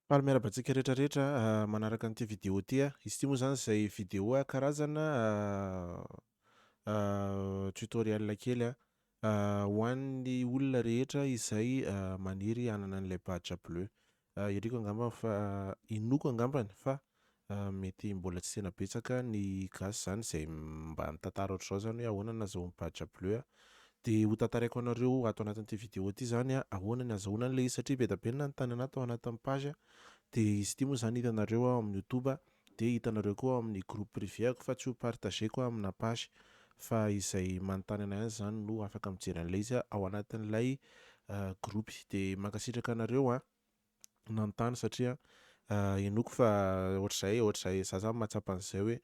Faly miaraba antsika rehetra rehetra ah, manaraka an'ity vidéo ity ah. Izy ity moa zany izay vidéo ah, karazana ah, ah, tutoriel kely ah, ah, ho an'ny olona rehetra izay ah, maniry hanana an'ilay badge bleu. Ah, iriko angambany fa, ah, inoako angambany fa Mety mbola tsy tena betsaka ny gasy izany izay mba mitantara ohatr'izao izany hoe ahoana ny nazahoan'i Badja Bleu an! Dia ho tantaraiko anareo ato anatin'ity vidéo ity izany an, ahoana ny azahoanany ilay izy satria be dia be ny nanontany anah tao anatin'ny page an! Dia izy ity moa izany hitanareo ao amin'ny youtube an! Dia hitanareo koa ao amin'ny groupe privé-ako fa tsy ho partager-ko amina page fa izay manontany anah ihany izany no afaka mijery an'ilay izy ao anatin'ilay groupe. Dia mankasitraka anareo an! nanontany satria henoiko fa ohatr'izay ohatr'izay za zany mahatsapa an'izay hoe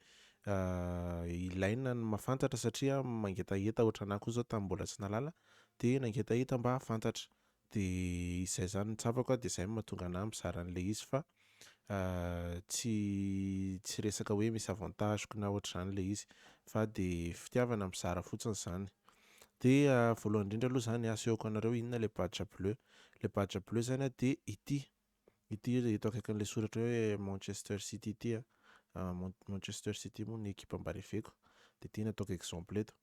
ilaina ny mahafantatra satria mangetaheta ohatrany ahy koa zao tamin'ny mbola tsy nalala de nangetaheta mba hahafantatra de izay zany no tsapako a de zay no mahatonga anahy mizara an'le izy fa tsy tsy resaka hoe misy avantage-ko na ohatr'izany le izy fa de fitiavana mizara fotsiny zany. Dia voalohany indrindra aloha izany hasehoko anareo inona ilay badge bleu. Ilay badge bleu izany dia ity. Ity eto akaikin'ilay soratra hoe Manchester City ity. Manchester City moa ny ekipa mba reveko. Dia ity no ataoko exemple eto.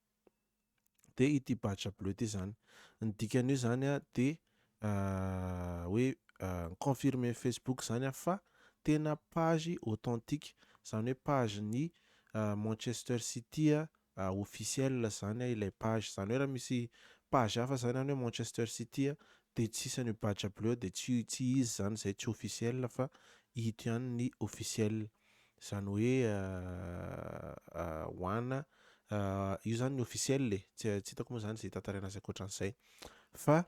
Dia ity badge bleu ity izany. Ny dikan'io izany dia hoe confirmer Facebook izany fa tena page authentique. Izany hoe page-ny Manchester City a officiel zany a ilay page zany hoe raha misy page hafa zany any hoe Manchester City a de tsy isan io badge bleu io de tsy tsy izy zany zay tsy officiel fa ito ihany ny officiel zany hoe a a ho ana a io zany ny officiel e tsy tsy hitako moa zany ze hitantaraina azy ankoatran'izay fa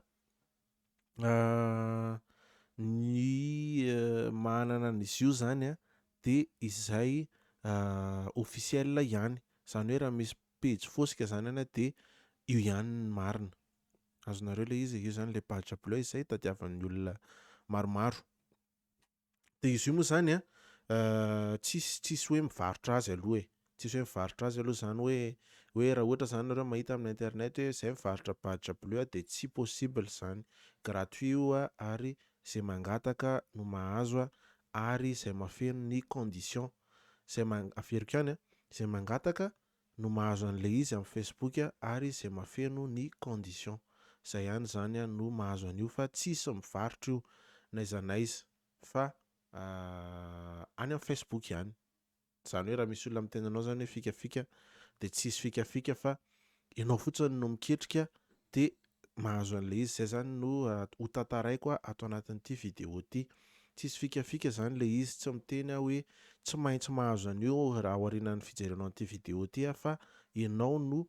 ny manana an'izy io zany a de izay officiel ihany, zany hoe raha misy pejy fosika zany any de io ihany ny marina, azonareo le izy e, io zany le page bleu izay tadiavan'ny olona maromaro. Dia izy io moa izany an, tsisy tsisy hoe mivarotra azy aloha e. Tsisy hoe mivarotra azy aloha izany hoe hoe raha ohatra izany nareo mahita amin'ny internet hoe izay mivarotra badge bleu dia tsy possible izany. Gratuit io ary izay mangataka no mahazo ary izay mahafeno ny conditions. Izay, averiko ihany an, izay mangataka no mahazo an'ilay izy amin'ny Facebook ary izay mafeno ny condition. Izay ihany izany no mahazo an'io fa tsisy mivarotra io n'aiza n'aiza fa any amin'ny Facebook ihany. Izany hoe raha misy olona miteny anao izany hoe fikafika dia tsy hisy fikafika fa ianao fotsiny no miketrika dia mahazo an'ilay izy, izay izany no ho tantaraiko ato anatin'ity vidéo ity, tsisy fikafika izany ilay izy, tsy miteny aho hoe tsy maintsy mahazo an'io raha aorianan'ny fijerenao an'ity vidéo ity aho fa ianao no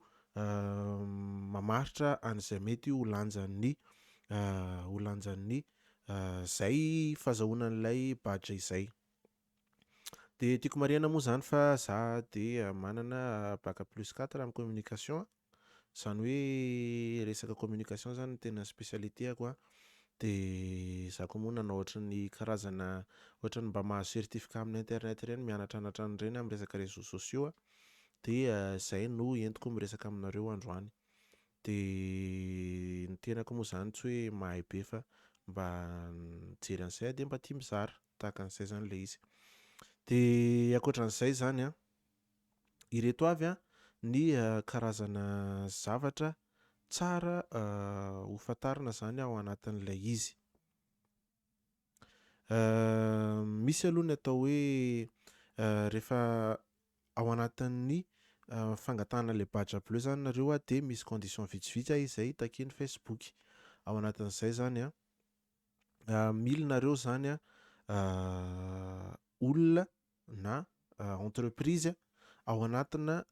mamaritra an'izay mety ho lanjan'ny ho lanjan'ny izay fazahoana an'ilay badge izay. Dia tiako marihana moa izany fa za dia manana bac plus quatre amin'ny communication, izany hoe resaka communication izany no tena spécialité-ako an, dia za koa moa nanao ohatran'ny karazana ohatran'ny mba mahazo certificat amin'ny internet ireny mianatranatra an'ireny amin'ny resaka réseaux sociaux aho, dia izay no entiko miresaka aminareo androany. Dia ny tenako moa izany tsy hoe mahay be fa mba mijery an'izay aho dia mba tia mizara. tahaka an'izay izany ilay izy. Dia ankoatra an'izay izany an, ireto avy an ny karazana zavatra tsara ho fantarina izany ao anatin'ilay izy. Misy aloha ny atao hoe rehefa ao anatin'ny fangatahana ilay badge bleu izany nareo dia misy condition vitsivitsy izay takian'ny Facebook. Ao anatin'izay izany an, mily nareo zany a olona na entreprise ao anatina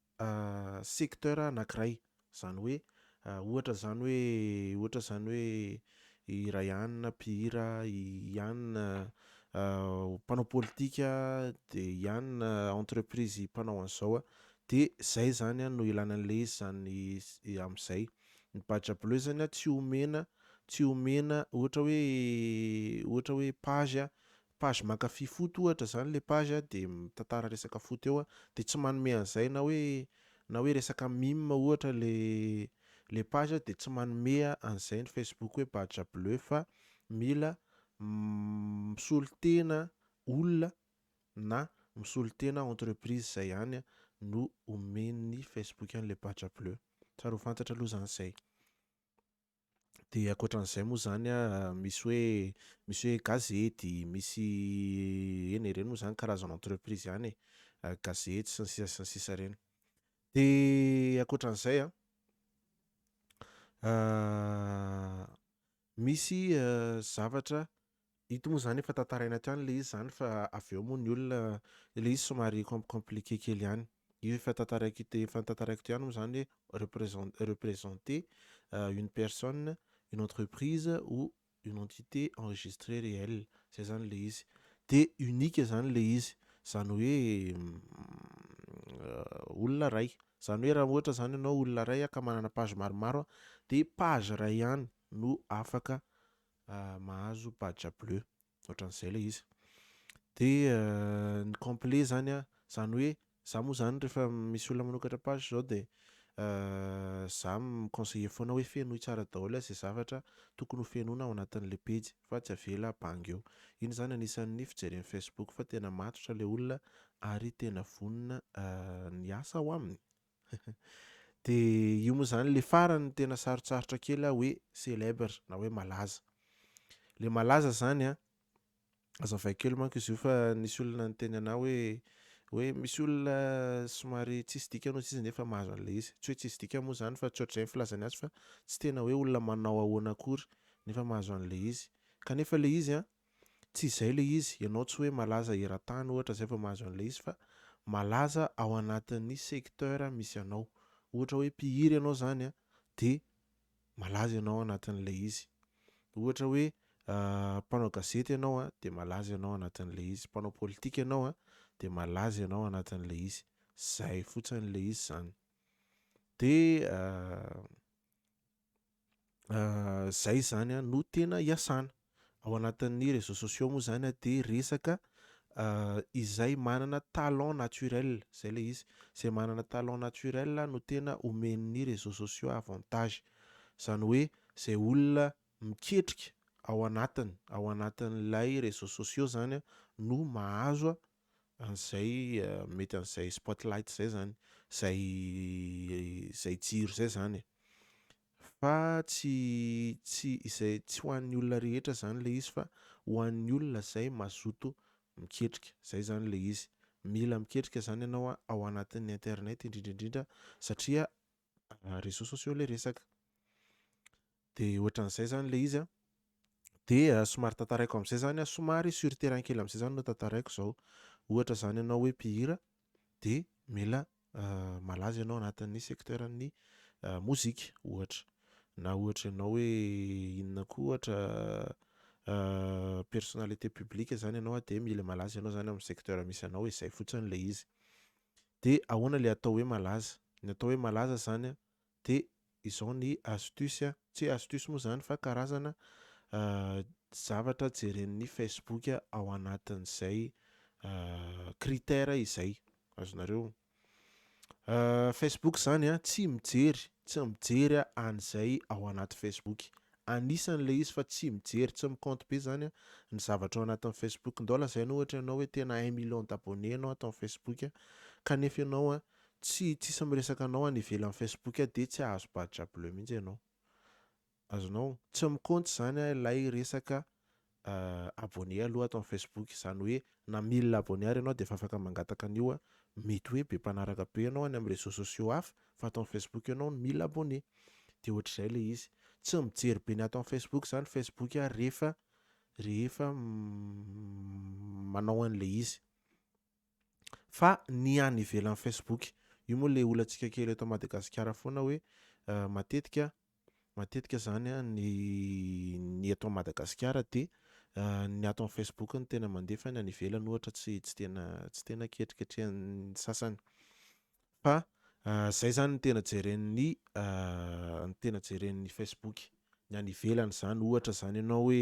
secteur anakiray zany hoe ohatra zany hoe ohatra zany hoe i Rayane mpihira i Yane mpanao politika de Yane entreprise mpanao an'zao a de zay zany a no ilana an'le izy zany am'zay Ny badge bleu zany a tsy omena tsy omena ohatra hoe ohatra hoe page a page mankafy foot ohatra zany le page a de mitantara resaka foot eo a de tsy manome an'zay na hoe na hoe resaka mime ohatra le le page a de tsy manome an'zay ny facebook hoe badge bleu fa mila misolo tena olona na misolo tena entreprise zay ihany no omen'ny facebook an'le badge bleu. Tsara ho fantatra aloha izany izay. Dia ankoatran'izay moa izany misy hoe misy hoe gazety, misy eny e, ireny moa izany karazana entreprise ihany e, gazety sy ny sisa sy ny sisa ireny. Dia ankoatran'izay an, Misy zavatra, ito moa zany efa tantaraina ato ihany le izy zany fa avy eo moa ny olona, le izy somary com compliqué kely ihany. Io efa tantaraiko ito efa tantaraiko ito ihany moa zany hoe represent representer une personne, une entreprise ou une entité enregistrée réelle zay zany le izy. De unique zany le izy, zany hoe olona ray Zany hoe raha ohatra zany ianao olona iray ka manana page maromaro de page iray ihany no afaka mahazo badge bleu otran'izay ilay izy de ny complet zany a zany hoe za moa zany rehefa misy olona manokatra page zao de za mi-conseiller foana hoe fenoy tsara daholo izay zavatra tokony ho fenoina ao anatin'le pejy fa tsy avela bangy eo, iny zany anisan'ny fijeren'ny facebook fa tena matotra le olona Ary tena vonona ny asa ao aminy. Dia io moa izany ilay farany tena sarotsarotra kely aho hoe célèbre na hoe malaza. Ilay malaza izany an, azavaiko kely manko izy io fa nisy olona niteny anah hoe hoe misy olona somary tsisy dikany hoy izy nefa mahazo an'ilay izy. Tsy hoe tsisy dikany moa izany fa tsy ohatr'izay ny filazany azy fa tsy tena hoe olona manao ahoana akory nefa mahazo an'ilay izy. Kanefa ilay izy an, Tsy izay ilay izy, ianao tsy hoe malaza eran-tany ohatra izay vao mahazo an'ilay izy fa malaza ao anatin'ny secteur misy anao. Ohatra hoe mpihira ianao izany an, dia malaza ianao ao anatin'ilay izy. Ohatra hoe mpanao gazety ianao an, dia malaza ianao ao anatin'ilay izy. Mpanao politika ianao an, dia malaza ianao ao anatin'ilay izy. Izay fotsiny ilay izy izany. Dia izay izany a no tena iasana. Ao anatin'ny réseaux sociaux moa izany dia resaka izay manana talent naturel, izay ilay izy, izay manana talent naturel no tena omen'ny réseaux sociaux avantage. Izany hoe izay olona miketrika ao anatiny, ao anatin'ilay réseaux sociaux izany no mahazo an'izay mety an'izay spotlight izay zany, izay izay jiro izay zany e, fa tsy tsy izay tsy ho an'ny olona rehetra zany le izy fa ho an'ny olona izay mazoto miketrika, izay zany le izy, mila miketrika zany ianao ao anatin'ny internet indrindra indrindra satria réseaux sociaux ilay resaka. Dia ohatran'izay zany ilay izy a. Dia somary tantaraiko amin'izay zany a, somary sur le terrain kely amin'izay zany no tantaraiko izao. Ohatra zany ianao hoe mpihira dia mila malaza ianao anatin'ny secteur-n'ny mozika ohatra. Na ohatra ianao hoe inona koa ohatra personnalité publique zany ianao dia mila malaza ianao zany amin'ny secteur misy anao, izay fotsiny ilay izy. de ahoana le atao hoe malaza? Ny atao hoe malaza zany a de izao ny astuce a, tsy hoe astuce moa zany fa karazana zavatra jeren'ny facebook ao anatin'izay critère izay, azonareo? Facebook zany a tsy mijery, tsy mijery an'izay ao anaty facebook Anisany le izy fa tsy mijery tsy mi compte be zany an ny zavatra ao anatin'ny facebook ndao lazaina ohatra ianao hoe tena un million d'abonné ianao ato am facebook an kanefa ianao an tsy tsisy miresaka anao any ivelan'ny facebook an dia tsy ahazo badge bleu mihitsy ianao azonao tsy mi compte zany an ilay resaka Ahh abonné aloha ato am Facebook izany hoe na mille abonné ary ianao dia efa afaka mangataka an'io a! Mety hoe be mpanaraka be ianao any am réseaux sociaux hafa fa ato am Facebook ianao no mille abonné! Dia ohatr'izay ilay izy! Tsy mijery be ny ato am Facebook izany Facebook ary rehefa rehefa manao an'ilay izy. fa ny any ivelan'ny Facebook io moa le olantsika kely eto Madagasikara foana hoe euh, matetika matetika zany ny ny eto Madagasikara dia euh, ny ato amin'ny Facebook no tena mandefa ny any ivelany ohatra tsy tsy tena tsy tena ketriketrehan'ny sasany fa zay zany ny tena jeren'ny ny tena jeren'ny Facebook ny any ivelany zany ohatra zany ianao hoe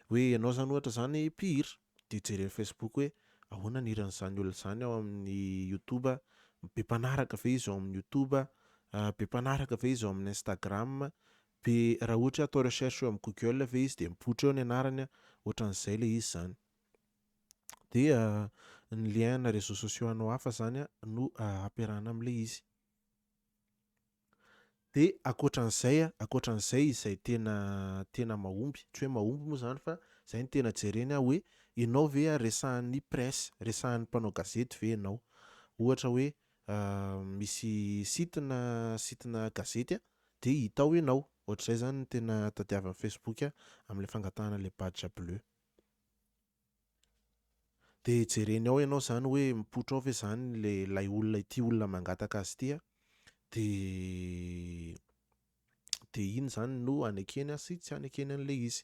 hoe ianao zany ohatra zany mpihira de jeren'ny Facebook hoe ahoana ny hiran'izany olona zany ao amin'ny YouTube be mpanaraka ve izy ao amin'ny YouTube be mpanaraka ve izy ao amin'ny Instagram be raha ohatra hoe atao recherche eo amin'ny Google ve izy de mipoitra eo ny anarany ohatran'izay le izy zany dia ny lien na réseaux sociaux anao hafa zany no ampiarahana amin'ilay izy. Dia ankoatran'izay, ankoatran'izay izay tena tena mahomby, tsy hoe mahomby moa zany fa zay no tena jereny aho hoe ianao ve resahan'ny presse, resahan'ny mpanao gazety ve ianao? Ohatra hoe misy site na site na gazety dia hita ao ianao, ohatr'izay zany no tena tadiavin'ny Facebook amin'ilay fangatahana ilay badge bleu. Dia jereny ao ianao izany hoe mipoitra ao ve izany ilay ilay olona ity olona mangataka azy ity a, dia dia iny izany no hanekeny sy tsy hanekeny an'ilay izy.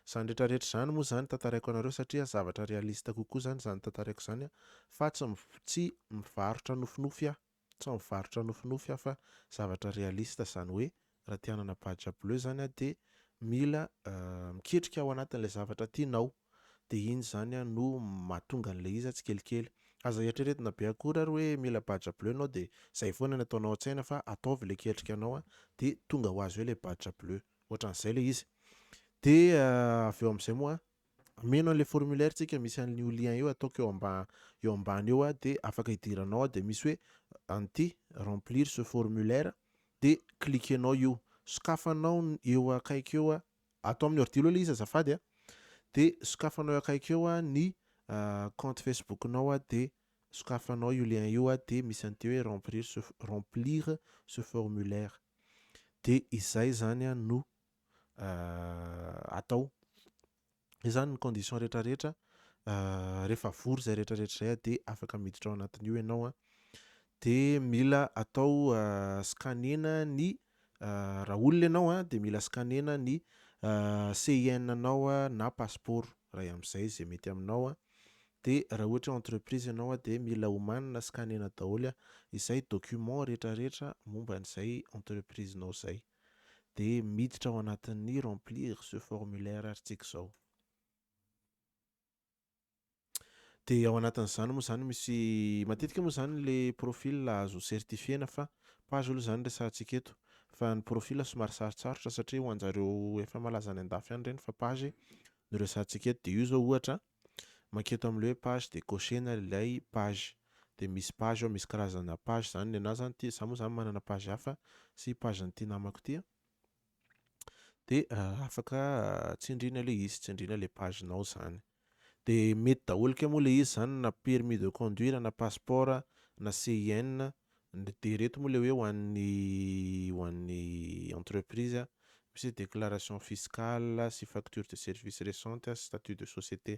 Izany rehetra rehetra izany moa izany tantaraiko anareo satria zavatra réaliste kokoa izany izany tantaraiko izany fa tsy tsy mivarotra nofinofy aho. Sao mivarotra nofinofy aho fa zavatra réaliste zany hoe raha te hanana badge bleu zany aho dia mila miketrika ao anatin'ilay zavatra tianao dia iny zany no mahatonga an'ilay iza tsikelikely. Aza eritreretina be akory ary hoe mila badge bleu ianao dia zay foana ny ataonao an-tsaina fa ataovy ilay ketrika anao dia tonga ho azy eo ilay badge bleu. Ohatran'izay ilay izy. Dia avy eo amin'izay moa. Ameno an'ilay formulaire tsika misy an'l io lien io ataoko eo amba eo ambany eo a dia afaka idiranao ao dia misy hoe anty remplir ce formulaire dia cliquenao io sokafanao ny eo akaiky eo a ato amin'ny ordi aloha ilay izy azafady a dia sokafanao eo akaiky eo a ny compte Facebook-nao a dia sokafanao io lien io a dia misy an'ity hoe remplir ce remplir ce formulaire dia izay izany a no atao. Zay zany ny condition rehetra rehetra rehefa vory zay rehetra rehetra zay dia afaka miditra ao anatin'io ianao a. Dia mila atao scanner-na ny raha olona ianao a dia mila scanner-na ny CIN anao na passeport ray amin'izay zay mety aminao a. Dia raha ohatra hoe entreprise ianao a dia mila omanina scanner-na daholo izay document rehetra rehetra momba an'izay entreprise-nao zay. dia miditra ao anatin'ny remplir ce formulaire article izao. Dia ao anatin'izany moa izany misy matetika moa izany le profil azo certifiena fa page aloha izany resahantsika eto fa ny profil somary sarotsarotra satria ho anjareo efa malaza any andafy any ireny fa page no resahantsika eto dia io izao ohatra Manketo amle hoe page de cocher-na ilay page de misy page ao misy karazana page zany nenahy zany ty za moa zany manana page hafa sy page n'ity namako ty de afaka tsindrina le izy tsindrina le page nao zany de mety daholo ke moa le izy zany na permis de conduire na passeport na CIN Ny dia ireto moa le hoe ho an'ny ho an'ny entreprise misy hoe déclaration fiscale sy facture de service récente sy statut de société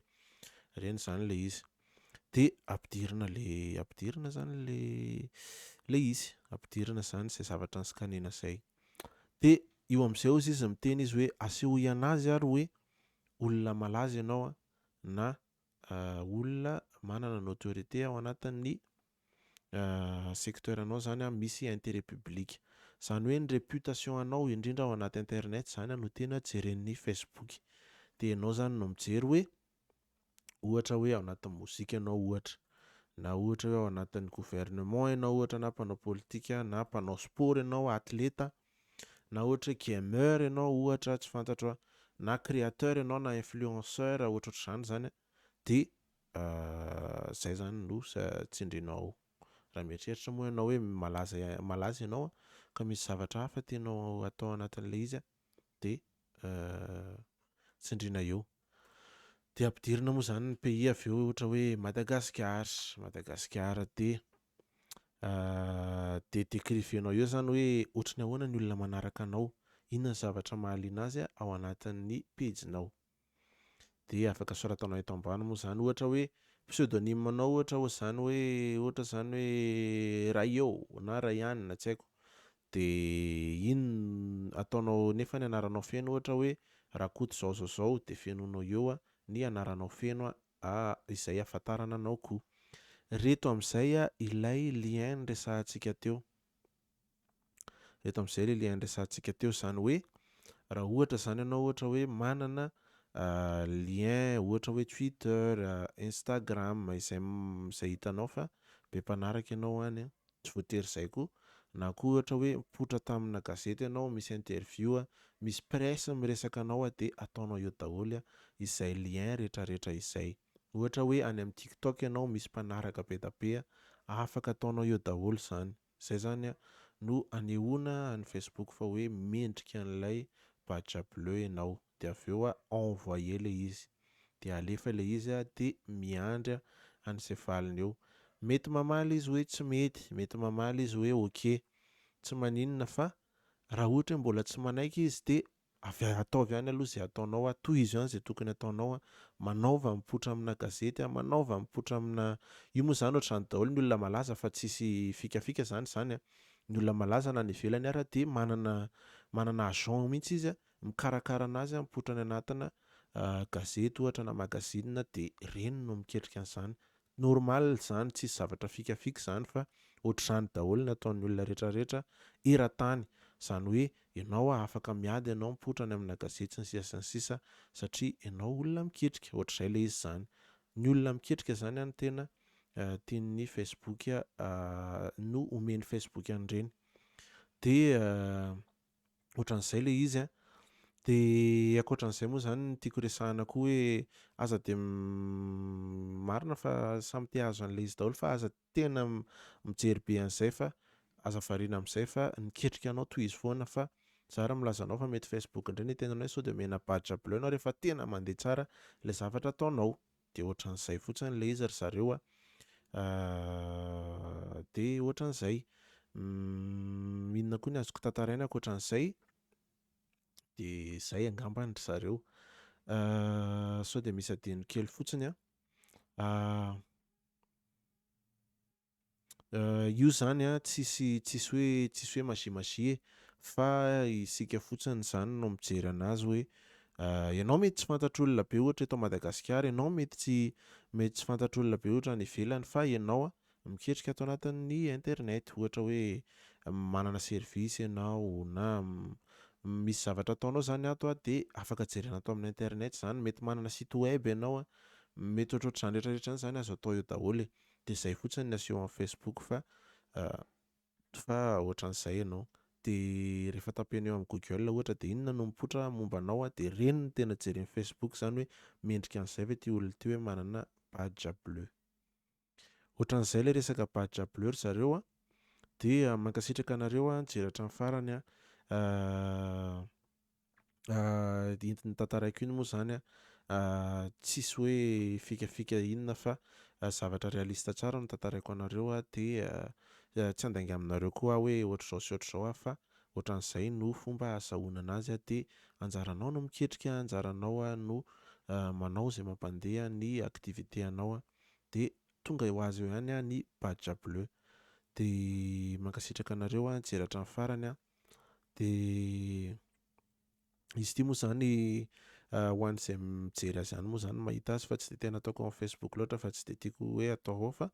ireny izany le izy de ampidirina le ampidirina izany le le izy ampidirina izany izay zavatra niscanena izay de io amin'izay hozy izy miteny izy hoe asehoy ianazy ary hoe olona malaza ianao na olona manana ny autorité ao anatin'ny secteur anao zany an misy interet public zany hoe ny reputation anao indrindra ao anaty internet zany no tena jeren'ny facebook de enao zany no mijery hoe ohatra hoe ao anatin'ny mozika enao ohatra na ohatra hoe ao anatin'ny gouvernement enao ohatra na mpanao politika na mpanao sport enao atleta na ohatra hoe gamer enao ohatra tsy fantatro an na createur enao na influenceur ohatrohatr'izany zany an Dia izay izany no tsindrianao ao. Raha mieritreritra moa ianao hoe malaza malaza ianao ka misy zavatra hafa tianao hatao anatin'ilay izy dia tsindriana eo. Dia ampidirina moa izany ny pays avy eo ohatra hoe Madagasikara, Madagasikara dia dia décrivenao eo izany hoe ohatran'ny ahoana ny olona manaraka anao, inona ny zavatra mahaliana azy ao anatin'ny pejinao. Dia afaka soratanao eto ambany moa izany ohatra hoe pseudonyme anao ohatra ohatr'izany hoe ohatra izany hoe Raio na Raianina tsy haiko dia iny ataonao nefa ny anaranao feno ohatra hoe Rakoto zao zao zao dia fenoinao eo ny anaranao feno izay ahafantarana anao koa. Ireto amin'izay ilay lien niresahantsika teo. Eto amin'izay ilay le andresantsika teo izany hoe raha ohatra izany ianao ohatra hoe manana lien ohatra hoe Twitter, Instagram izay izay hitanao fa be mpanaraka ianao any an, tsy voatery izay koa, na koa ohatra hoe mipoitra tamina gazety ianao, misy interview, misy presse miresaka anao dia ataonao eo daholo izay lien rehetrarehetra izay. Ohatra hoe any amin'ny TikTok ianao misy mpanaraka be dia be an, afaka ataonao eo daholo izany. Izay izany no anehoana any Facebook fa hoe mendrika an'ilay badge bleu ianao. Dia avy eo envoyer ilay izy. Dia alefa ilay izy dia miandry an'izay valiny eo. Mety mamaly izy hoe tsy mety, mety mamaly izy hoe ok. Tsy maninona fa raha ohatra hoe mbola tsy manaiky izy dia Avy ataovy ihany aloha izay ataonao a, tohizo ihany izay tokony ataonao a, manaova mipoitra amina gazety a, manaova mipoitra amina, io moa izany ohatr'izany daholo ny olona malaza fa tsisy fikafika izany izany a, ny olona malaza na any ivelany ara dia manana manana agent mihintsy izy a, mikarakara anazy a, mipoitra any anatina gazety ohatra na magazine dia ireny no miketrika an'izany, Normal zany tsisy zavatra fikafika zany fa otrzany daholo ny ataon'ny olona rehetra rehetra eratany zany hoe enao a afaka miady enao mipoitra any amina gazety sy ny sisa sy ny sisa satria enao olona miketrika otrizay le izy zany ny olona miketrika zany any tena tian'ny facebook no omen'ny facebook an'ireny de ohatran'izay ilay izy a. Dia ankoatran'izay moa izany ny tiako resahana koa hoe aza dia marina fa samy te hahazo an'ilay izy daholo fa aza tena mijery be an'izay fa aza variana amin'izay fa niketrika anao tohizo foana fa za ary milaza anao fa mety Facebook indray ny tenanao sao dia omena badge bleu ianao rehefa tena mandeha tsara ilay zavatra ataonao. Dia ohatran'izay fotsiny ilay izy ry zareo a. Dia ohatran'izay. Inona koa ny azoko tantaraina ankoatran'izay? Dia izay angambany ry zareo. Sao dia misy adino kely fotsiny an. Io izany an, tsisy tsisy hoe tsisy hoe magie magie e! Fa isika fotsiny izany no mijery an'azy hoe ianao mety tsy fantatr'olona be ohatra eto Madagasikara, ianao mety tsy mety tsy fantatr'olona be ohatra any ivelany fa ianao an, miketrika ato anatin'ny internet ohatra hoe manana service ianao na misy zavatra ataonao izany ato an dia afaka jerena ato amin'ny internet izany, mety manana site web ianao an, mety ohatrohatr'izany rehetra rehetra izany azo atao eo daholo e! de zay fotsiny ny aseho am Facebook fa fa otran'izay ianao de rehefa tapenao am Google ohatra de inona no mipoitra momba anao a de reny no tena jeren'i Facebook zany hoe mendrika an'izay ve ty olona ty hoe manana badge bleu otran'izay le resaka badge bleu ry zareo a de mankasitraka anareo a nijery hatram farany a. iny notantaraiko iny moa zany tsisy hoe fikafika inona fa zavatra réaliste tsara no tantaraiko anareo de tsy andainga aminareo koa hoe ohatr'izao sy ohatr'izao aho fa ohatran'izay no fomba ahazahoana anazy aho de anjaranao no miketrika anjaranao no manao izay mampandeha ny activité anao de tonga ho azy eo ihany ny badge bleu de mankasitraka anareo nijery hatramin'ny farany Dia izy ity moa izany ho an'izay mijery azy any moa izany mahita azy fa tsy dia tena ataoko amin'ny Facebook loatra fa tsy dia tiako hoe atao ao fa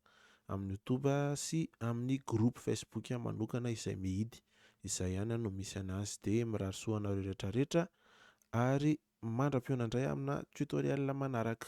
amin'ny YouTube sy amin'ny groupe Facebook manokana izay mihidy. Izay ihany no misy anazy dia mirary soa anareo rehetra rehetra ary mandra-pihaona indray amina tutoriel manaraka.